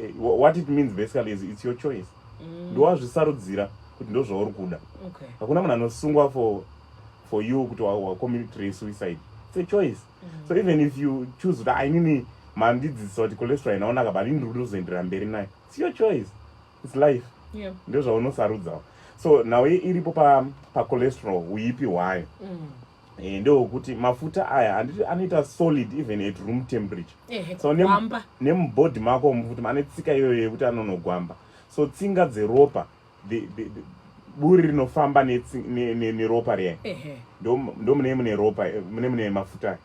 eh, what it means basically is it's your choice mm. ndowazvisarudzira kuti ndozvauri kuda hakuna munhu anosungwa for for you kuti wacommunitry suicide it's a choice mm. so even if you choose kuti ainini mandidzidzisa kuti cholesterol inaonaka but ini ndikutozoendera mberi nayo it's your choice it's life yeah. ndozvaunosarudzawo so nhau iripo pacholesterol pa uipi hwayo mm. eh, ndewokuti mafuta aya handiti anoita solid even at room temperature eh, so nemubody mako mufuti ane tsika iyoyo yekuti anonogwamba so tsinga dzeropa the, the, the, buri rinofamba neropa riya ndomune mune ropa mune mune mafuta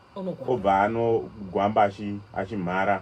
obva anogwamba achimhara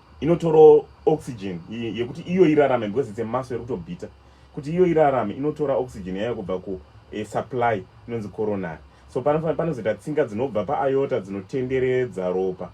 inotorawo oxygen yekuti iyo irarame because it's a muscle rekutobhita kuti iyo irarame inotora oxygen yayo kubva ku eh, supply inonzi coronary so panofanira panozoita tsinga dzinobva paayota dzinotenderedza ropa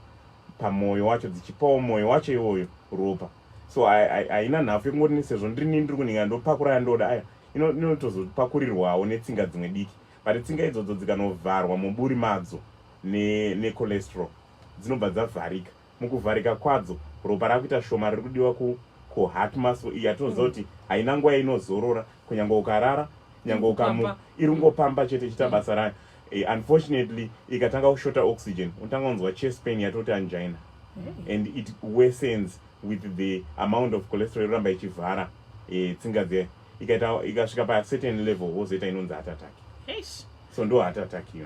pamwoyo wacho dzichipawo mwoyo wacho iwoyo ropa so haina nhafu yekungoti sezvo ndiri nini ndiri kunhinga ndopakura yandoda aya inotozopakurirwawo netsinga dzimwe diki but tsinga idzodzo dzikanovharwa muburi madzo necholesterol ne dzinobva dzavharika mukuvharika kwadzo ropa rakuita shoma riri kudiwa ku ku heart muscle iyi yatinoziva kuti haina nguva yainozorora kunyange ukarara nyange ukamu iri kungopamba chete ichiita basa rayo eh, unfortunately ikatanga kushota oxygen unotanga kunzwa chest pain yatoti angina and it wesens with the amount of cholesterol yoramba ichivhara eh, tsinga dze ikaita ikasvika pa certain level wozoita inonzi heart attack so ndo heart attack iyo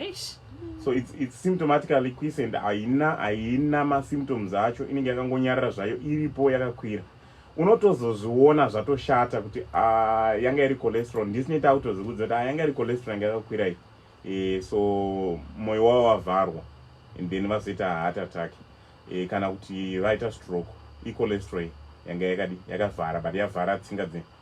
Eish. so it's, it's symptomatically quiescent haina haina masymptoms acho inenge yakangonyarira zvayo iripo yakakwira unotozozviona zvatoshata kuti ah, yanga iri cholesterol ndisine takutozikudza kuti ah, yanga iri cholesterol yanga yakakwira iyi e, so moyo wavo wavharwa and then vazoita heart attack e, kana kuti vaita stroke icholesterol yanga yakadi yakavhara but yavhara tsinga dze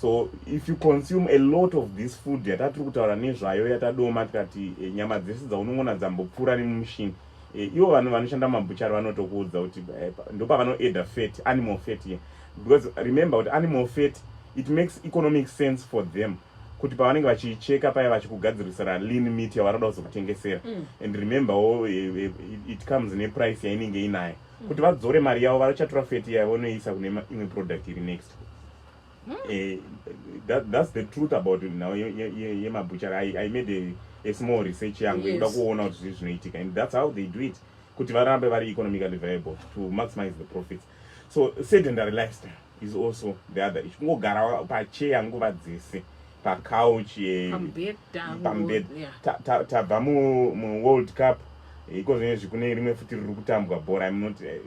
so if you consume a lot of this food yatatiri kutaura nezvayo yatadoma tikati e, nyama dzese dzaunongona dzambopfuura nemumushini e, ivo vanhu vanoshanda mabhuchari vanotokuudza kuti e, ndopavanoeda fat animal fat ye because remember kuti animal fat it makes economic sense for them kuti pavanenge vachicheka paya vachikugadzirisira lean meat yavanoda kuzokutengesera mm. and remember wo e, e, it comes neprice yainenge inayo mm. kuti vadzore mari yavo vachatora fat yavo noisa kune imwe product iri next Hmm. Eh, that, that's the truth about now yemabhuchari I, I made a, a small research yangu ikuda yes. kuona kuti zvii zvinoitika and that's how they do it kuti varambe vari economically viable to maximize the profits so sedentary lifestyle is also the other issue kungogara pacheya nguva dzese pacouch eh, pambed tabva muworld cup eh, iko zvinezvi kune rimwe futi riri kutambwa bhora im not eh,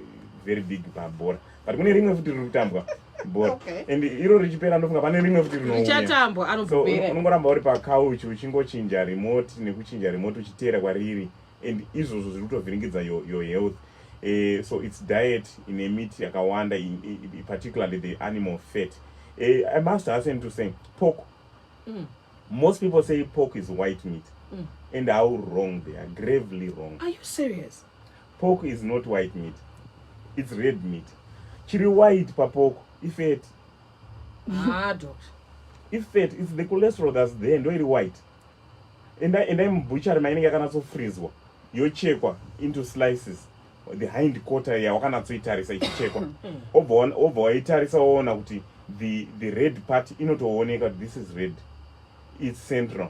very big pabhora but kune rimwe futi riri kutambwa bhora okay. and iro richipera ndofunga pane rimwe futi rinouyaachatambwa anobupera so, unongoramba uri pacouch uchingochinja remote nekuchinja remote uchiteera kwariri and izvozvo zviri kutovhiringidza your, your health uh, so its diet ine miti yakawanda particularly the animal fat uh, i must hasten to say pork mm. most people say pork is white meat mm. and how wrong they are gravely wrong are you serious Pork is not white meat. It's red meat. Chiri white pa pork ifat. Ah, doctor. Ifat it's the cholesterol that's there ndo iri white. Enda enda mubutchery mainenge yakanatso freezwa yochekwa into slices the hind quarter yawakanatsoitarisa ichichekwa obva waitarisa woona kuti the, the red part inotooneka this is red it's central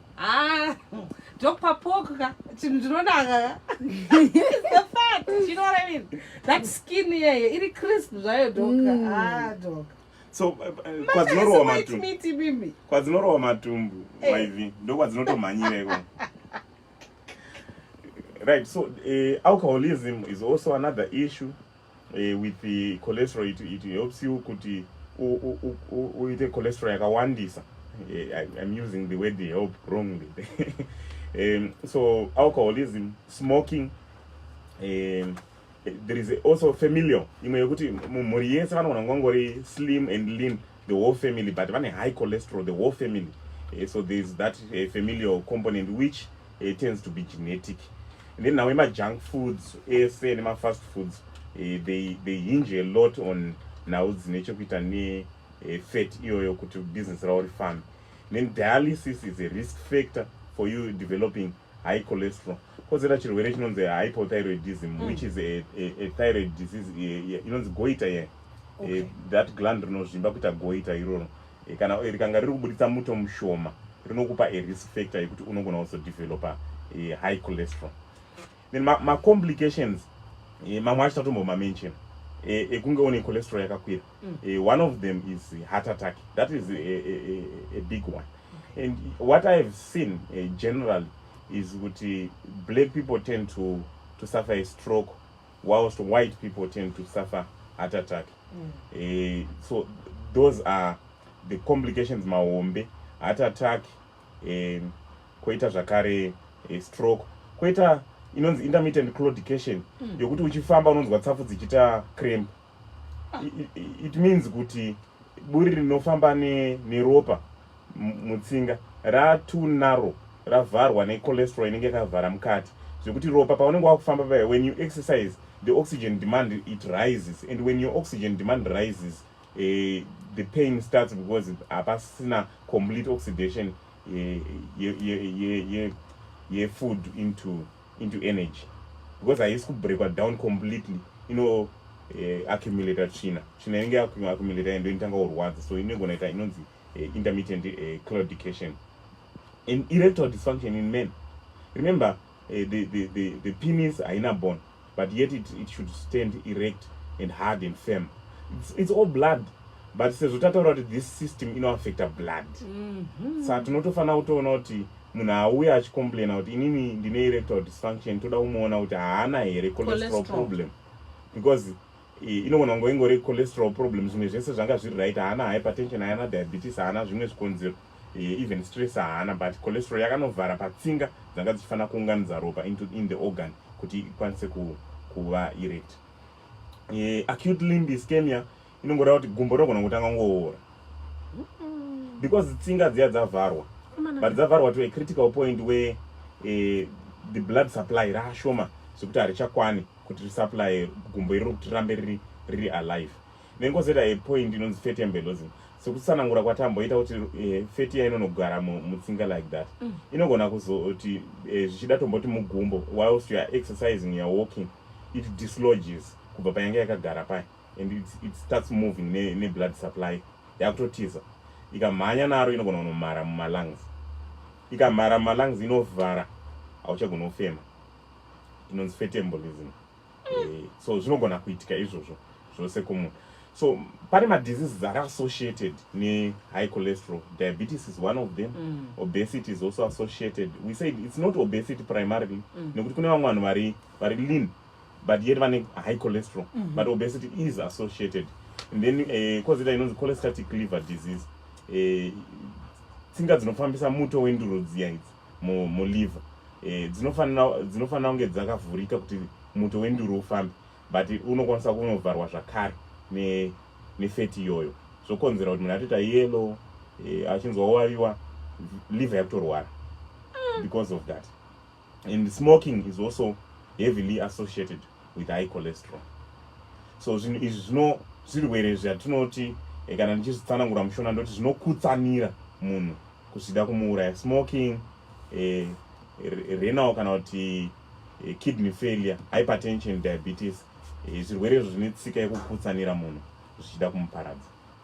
Ah, Dr. Poka, Chimdronaka. the fat, you know what I mean? That skin here, it is crisp, right, Doc? Mm. Ah, Doc. So, uh, uh, kwa zinoro wa matumbu. Miti mimi. Kwa zinoro wa matumbu, hey. Eh. Waivi. Ndo kwa zinoto manyire kwa. Right, so uh, alcoholism is also another issue. uh, with the cholesterol it, it helps you kuti uite cholesterol yakawandisa eh, i'm using the word help wrongly um, so alcoholism smoking um, there is also familial imwe yekuti mumhuri yese vanogona kungangori slim and lean the whole family but vane high cholesterol the whole family uh, so there is that uh, familial component which uh, tends to be genetic and then now ema junk foods ese nema fast foods uh, they, they hinge a lot on nhau dzine chekuita ne uh, fat iyoyo kuti business ravo rifambe then dialysis is a risk factor for you developing high cholesterol kozera chirwere chinonzi hypothyroidism mm. which is a, a, a thyroid disease inonzi goita ye yeah. okay. e, that gland rinozvimba kuita goita iroro e, kana e, rikanga riri kubuditsa muto mushoma rinokupa a risk factor yekuti unogona also developer e, high cholesterol then macomplications ma, ma e, mamwe acho tatombomamention e, ekunge une cholesterol yakakwira mm. e, one of them is heart attack that is a, a, a, a big one okay. and what i have seen uh, generally is kuti black people tend to, to suffer a stroke whilst white people tend to suffer heart attack mm. eh, so those are the complications mahombe heart attack eh, koita zvakare eh, stroke koita inonzi intermittent claudication mm. yokuti uchifamba unonzwa tsafu dzichiita cramp ah. it, it means kuti buri rinofamba neropa ne mutsinga ra too narrow ravharwa ne cholesterol inenge yakavhara mukati zvekuti ropa paunenge wakufamba paya when you exercise the oxygen demand it rises and when your oxygen demand rises uh, the pain starts because hapasina complete oxidation yefood ye, ye, ye, ye into into energy because haisi kubreakwa down completely ino eh, accumulator tsvina tsvina inenge accumulator yendo inotanga kurwadza so inogona ita inonzi eh, intermittent eh, claudication and erectile dysfunction in men remember eh, the, the, the, the penis haina bone but yet it, it should stand erect and hard and firm it's, it's all blood but sezvo tataura kuti this system inoaffecta blood mm -hmm. sa tinotofanira kutoona kuti munhu auye achicomplaina kuti inini ndine erectile dysfunction toda kumuona kuti haana here cholesterol problem because inogona kungo ingori cholesterol problem zvimwe zvese zvanga zviri right haana hypertension haana diabetes haana zvimwe zvikonzero even stress haana but cholesterol yakanovhara patsinga dzanga dzichifanira kuunganidza ropa into in the organ kuti ikwanise kuva erect acute limb ischemia inongoda kuti gumbo rinogona kutanga ngoora because tsinga dziya dzavharwa but dzavharwa to a critical point where eh, the blood supply raashoma zvekuti harichakwani kuti risupply gumbo iriro kuti rirambe riri riri alive nengozoita a point inonzi fatia mbelozin sekusanangura kwatamboita kuti eh, fatia inonogara mutsinga like that mm. inogona kuzoti eh, zvichida tomboti mugumbo whilst youare exercising youare walking it disloges kubva payange yakagara paya and it, it starts moving ne, ne blood supply yakutotiza ikamhanya naro inogona kunomhara mumalungs ikamhara mumalungs inovhara hauchagona kufema inonzi fetembolism eh, so zvinogona kuitika izvozvo zvose kumunhu so pane madiseases ari associated nehigh cholesterol diabetes is one of them mm. obesity is also associated we said it's not obesity primarily mm. nekuti kune vamwe vanhu vari vari lean but yet vane high cholesterol mm -hmm. but obesity is associated and then eh, kozita uh, inonzi cholestatic liver disease eh, tsinga dzinofambisa muto wenduro dziya idzi muliver eh, dzinofanira kunge dzakavhurika kuti muto wenduro ufambe but unokwanisa kunovharwa zvakare nefeti ne iyoyo zvokonzera kuti munhu atoita yellow eh, achinzwa waviwa liver yakutorwara mm. because of that and smoking is also heavily associated with high cholesterol so zvinhu izvi zvino zvirwere zvatinoti eh, kana ndichizvitsanangura mushona ndoti zvinokutsanira munhu kuzvida kumuuraya smoking eh, renal kana kuti eh, kidney failure hypertension diabetes eh, zvirwere izvo zvine tsika yekukutsanira munhu zvichida kumuparadza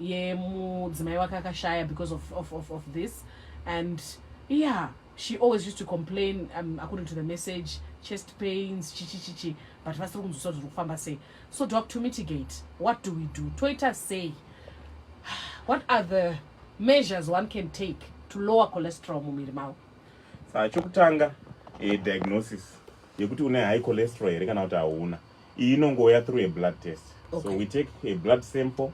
yemudzimai wake akashaya because of, of, of, of this and yeah she always used to complain um, according to the message chest pains chichichichi but vasiri kunzwisisa zviri kufamba sei so doc to mitigate what do we do toita sei what are the measures one can take to lower cholesterol mumiri mavo saa chokutanga eh, diagnosis yekuti une high cholesterol here kana kuti hauna Iyi inongouya through a blood test. Okay. So we take a blood sample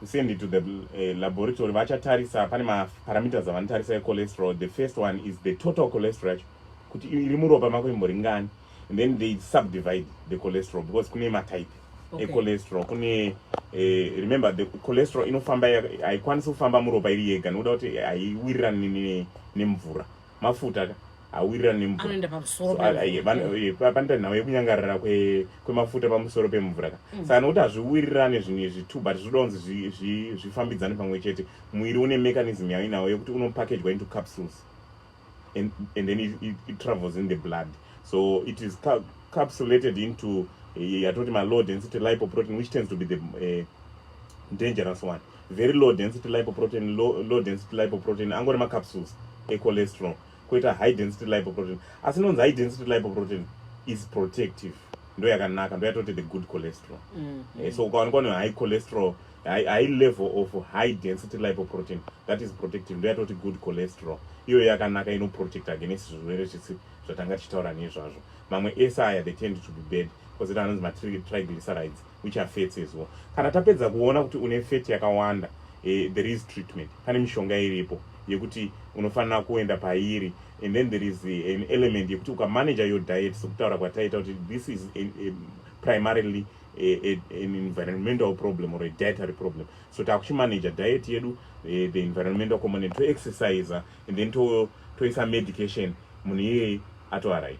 send it to the uh, laboratory vachatarisa pane maparameters avanotarisa echolesterol the first one is the total cholesterol yacho kuti iri muropa mako imbori ngani and then they subdivide the cholesterol because kune matype okay. echolesterol kune eh, remember the cholesterol inofamba haikwanisi kufamba muropa iri yega nokuda kuti haiwirirani nemvura mafuta ka awirirana nemvurapanoita nhau yekunyangarara kwemafuta pamusoro pemvura ka mm. saka nokuti hazviwirirane zvinhu izvi two but zvinoda kunzi zvifambidzane pamwe chete muviri une mechanism yainawo yekuti unopakejwa into capsules and, and then it, it, it travels in the blood so it is ca capsulated into eh, yatoti malow density lipoprotein which tends to be the uh, dangerous one very low density lipoprotein low, low density lipoprotein angori macapsules echolesterol koita high density lipoprotein asi inonzi high density lipoprotein is protective ndo yakanaka ndo yatoti the good cholesterol mm -hmm. eh, so ukawanikwa nehigh cholesterol high, high level of high density lipoprotein that is protective ndo yatoti good cholesterol iyoyo yakanaka inoprotect against zvirwere zvisi zvatanga tichitaura nezvazvo mamwe ese aya they tend to be bad kozita anonzi matriglycerides uchafetsezwa kana tapedza kuona kuti une feti yakawanda eh, there is treatment pane mishonga iripo yekuti unofanira kuenda pairi and then there is eh, an element yekuti ukamanager your diet sekutaura kwataita kuti this is a, a primarily a, a, an environmental problem or a dietary problem so takuchimanager diet yedu eh, the environmental component toexercise and then toisa to medication munhu iyeye atoaright